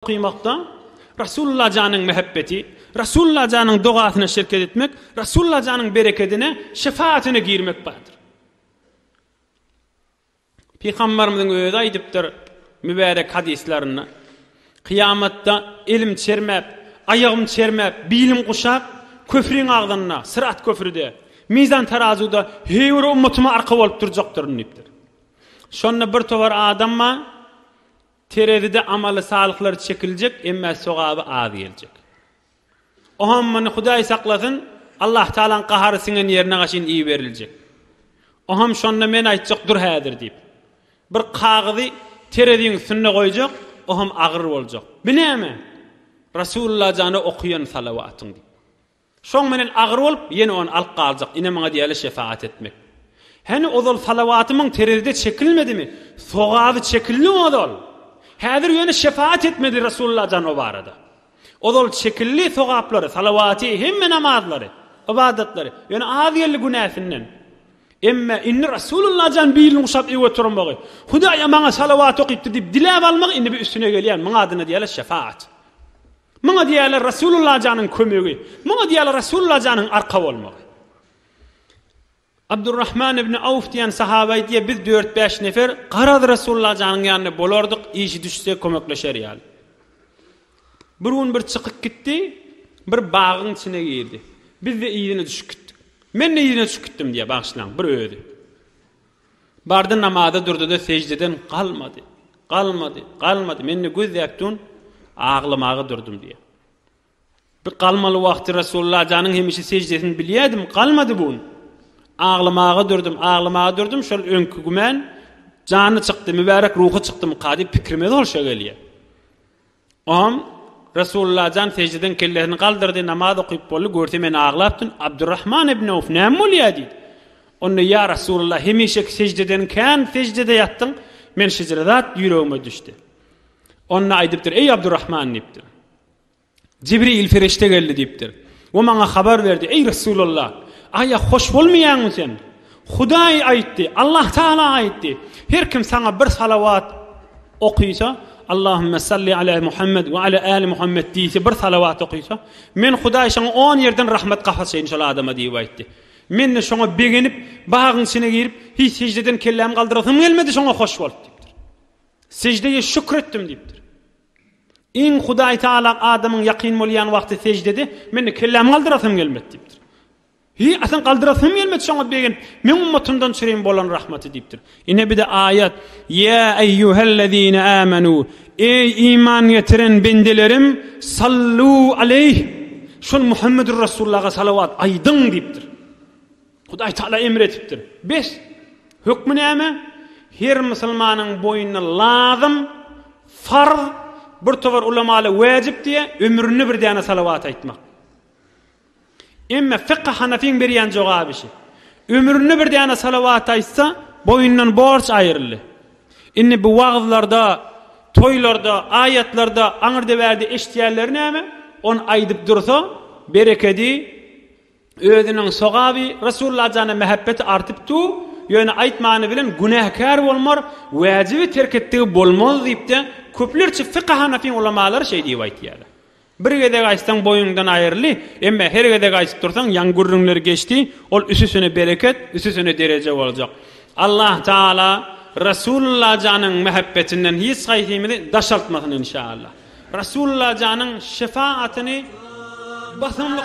Okumakda Rasulullah janyň mähebbeti, Rasulullah janyň dogasyna şerket etmek, Rasulullah janyň berekedine, şefaatyna girmek bardyr. Pygambarymyzyň özi aýdypdyr mübärek hadyslarynda, Kyýamatda elim çermäp, aýagym çermäp, bilim guşap, köpriň agzynda, syrat köprüde, mizan tarazuda heý bir ummatyma arka bolup durjakdyryn diýipdir. Şonda bir towar adam bar, Terezide amaly salyklar çekiljek emmä sogaby az geljek. Oham muny Hudaý saklasyn Allah Taalaň gahary siňen ýerine gaşyn iberiljek. Oham şonda men aýtjak dur häzir diýip. Bir kagyzy tereziň üstünde goýjak, oham agyr boljak. Bu näme? Rasulullah jana okuýan salawatyň diýip. Soň menen agyr bolup, ýene ony alyp galjak, ine maňa diýýärler şefagat etmek. Hany ozal salawatymyň terezide çekilmedimi? Sogaby çekildi ozal. Häzir ýöne şefagat etmedi Resulullah jan o barada. Ozal çekildi sogaplary, salawaty, hemme namazlary, ybadatlary. Ýöne az geldi günäsinden. Emme indi Resulullah jan bilini guşap ew oturmagy, Hudaýa maňa salawat okypdy diýip diläp almagy indi bir üstüne gelýär. Muňa adyna diýýärler şefagat. Muňa diýýärler Rasulullah janyň kömegi, muňa diýýärler Rasulullah janyň arka bolmagy. Abdurrahman ibn Awf diýen sahaba aýdýar, biz dört-bäş nefer garaz Rasulullah janyň ýanynda bolardyk, işi düşse kömekleşer ýaly. Bir gün bir çykyp gitdi, bir bagyň içine girdi. Biz-de yzyna düşüp gitdik. Men-de yzyna düşüp gitdim diýýär, bagyşlaň, bir özi. Bardy namaza durdy-da seždeden galmady. Galmady, galmady. Men-de göz däp durn, aglamaga durdum diýýär. Bir galmaly wagty Resulullah janyň hemişe seždesini bilýädim, galmady bu gün. Aglamaga durdum, aglamaga durdum, şol öňki gümen jany çykdy, mübärek ruhy çykdymyka diýip pikrime zolşa gelýär. Oňam Resulullajan sejiden kellesini galdyrdy, namaz okyp boldy, görse men aglapdyn, Abdurrahman ibn Awf näme bolýa diýdi. Onda ýa Resulullah hemişeki sejdeden kän sejdede ýatdyň, men şjre zat ýüregime düşdi. Onda aýdypdyr, eý Abdurrahman diýipdir. Jibril perişde geldi diýipdir. O maňa habar berdi, Eý, Resulalla! Aýa hoş bolmaýaňmy sen? Hudaý aýtdy, Allah Tagala aýtdy, Her kim saňa bir salawat okysa, Allahümme salli ala Muhammed we ala ali Muhammed diýse, bir salawat okysa, Men Hudaý şoňa on ýerden rahmet gap açaýyn şol adama diýip aýtdy. Men-de şoňa begenip, bagyň içine girip, hiç sejden kellämi galdyrasym gelmedi, şoňa hoş bolup diýipdir. Sejdeýe şükür etdim diýipdir. Iň Hudaý Tagala adamyň ýakyn bolýan wagty seždede, Men-de kellämi galdyrasym gelmedi diýipdir. Hiý, asyl galdyrasym gelmedi şoňa begenip, Men ummatymdan çüreýin bolan rahmaty diýipdir. Ine bir-de aýat, Ýa eýýuhellezine âmenû, Eý iman getiren bendelerim, sallû aleyh, şol Muhammedur Rasulullah-a salawat aýdyň diýipdir. Hudaý Taala emr etipdir. Bes! Hökmi näme? Her musulmanyň boýnuna lazym, farz, bir towar ulamala wäjip diýýär, ömründe bir däne salawat aýtmak. Emma Fiqh Hanafyň berýän jogaby şu. Ömründe bir däne salawat aýtsa, boýundan borç aýryldy. Indi bu wagzlarda, toýlarda, aýatlarda, aňyrda-bärde eşitýänleri näme? Ony aýdyp dursa, berekedi, Özüniň sogaby Resulla jana mähebbeti artyp du, ýöne aýtmany bilen günäkär bolmar, wäjibi terk etdigi bolmaz diýipde, köplerçe fykh hanafyň ulamalary şeý diýip aýtýarlar. Bir gezek aýtsaň boýuňdan aýryldy, emma her gezek aýtyp dursaň ýaň gürrüňleri geçdi, ol üsüsine bereket, üsüsine dereje boljak. Allah Taala Resulla janyň mähebbetinden hiç haýsymyzy daşaltmasyn inşallah. Resulla janyň şefaatyny basymlyk.